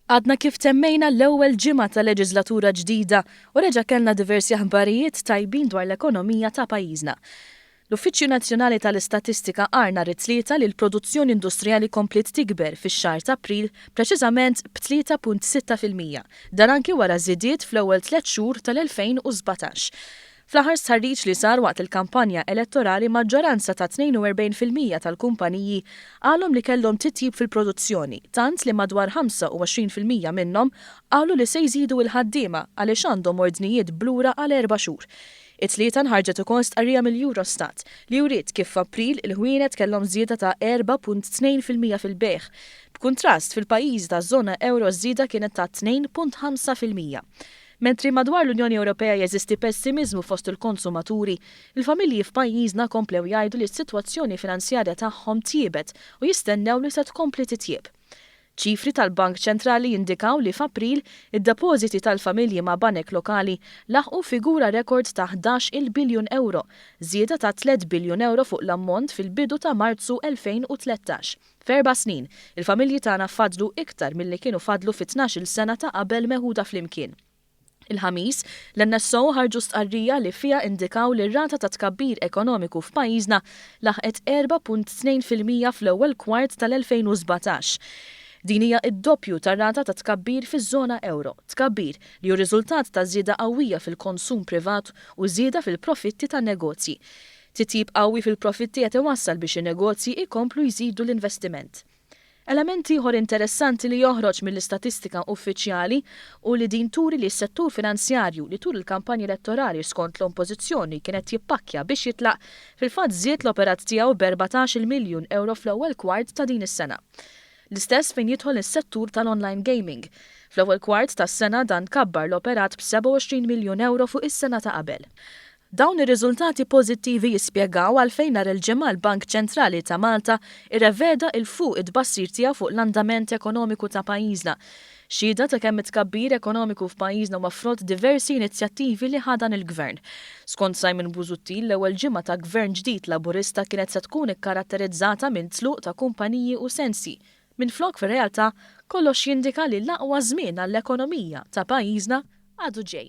Għadna kif temmejna l-ewwel ġimgħa ta' leġiżlatura ġdida u reġa' kellna diversi aħbarijiet tajbin dwar l-ekonomija ta' pajjiżna. L-Uffiċċju Nazzjonali tal-Istatistika qar nhar it-Tlieta li l-produzzjoni industrijali kompliet tikber fix-xahar t'April, preċiżament b'tlieta punt sitta fil-mija. Dan anki wara żidiet fl-ewwel tliet xhur tal-2017. Fl-aħħar stħarriġ li sar waqt il-kampanja elettorali maġġoranza ta' 42 fil-mija tal-kumpaniji qalhom li kellhom titjib fil-produzzjoni tant li madwar 25 fil-mija minnhom qalu li se jżidu il-ħaddiema għaliex għandhom ordnijiet b'lura għal erba' xhur. It-Tlieta nħarġet ukoll stqarrija mill-Eurostat li wriet kif f'April il-ħwienet kellhom żieda ta' 4.2 fil-mija fil-bejgħ. B'kuntrast, fil-pajjiżi taż-żona ewro ż-żieda kienet ta' 2.5 fil-mija. Mentri madwar l-Unjoni Ewropea jeżisti pessimiżmu fost il-konsumaturi, il-familji f'pajjiżna komplew jgħidu li s-sitwazzjoni finanzjarja tagħhom tjiebet u jistennew li se tkompli titjieb. Ċifri tal-Bank Ċentrali jindikaw li f'April, id-depożiti tal-familji ma' banek lokali laħqu figura rekord ta' ħdax il biljun ewro, żieda ta' tliet biljun ewro fuq l-ammont fil-bidu ta' Marzu 2013. F'erba' snin, il-familji tagħna fadlu iktar milli kienu fadlu fit-tnax-il sena ta' qabel meħuda flimkien. Il-Ħamis, l-NSO ħarġu stqarrija li fiha indikaw li r-rata ta' tkabbir ekonomiku f'pajjiżna laħqet 4.2 fil-mija fl-ewwel kwart tal-2017. Din hija d-doppju tar-rata ta' tkabbir fiż-żona ewro, tkabbir li hu riżultat ta' żieda qawwija fil-konsum privat u żieda fil-profitti tan-negozji. Titjib qawwi fil-profitti qed iwassal biex in-negozji jkomplu jżidu l-investiment. Element ieħor interessanti li joħroġ mill-istatistika uffiċjali hu li din turi li s-settur finanzjarju, li tul il-kampanja elettorali skont l-Ompożizzjoni kien qed jippakkja biex jitlaq, fil-fatt żied l-operat tiegħu b'erbatax-il miljun ewro fl-ewwel kwart ta' din is-sena. L-istess fejn jidħol is-settur tal-online gaming. Fl-ewwel kwart tas-sena dan kabbar l-operat b'27 miljun ewro fuq is-sena ta' qabel. Dawn ir-riżultati pożittivi jispjegaw għalfejn nhar il-Ġimgħa l-Bank Ċentrali ta' Malta irreveda 'il fuq it-tbassir tiegħu fuq l-andament ekonomiku ta' pajjiżna. Xhieda ta' kemm it-tkabbir ekonomiku f'pajjiżna huwa frott diversi inizjattivi li ħa dan il-Gvern. Skont Simon Busuttil, l-ewwel ġimgħa ta' Gvern ġdid Laburista kienet se tkun ikkaratterizzata minn tluq ta' kumpaniji u sensi, minflok fir-realtà kollox jindika li l-aqwa żmien għall-ekonomija ta' pajjiżna għadu ġej.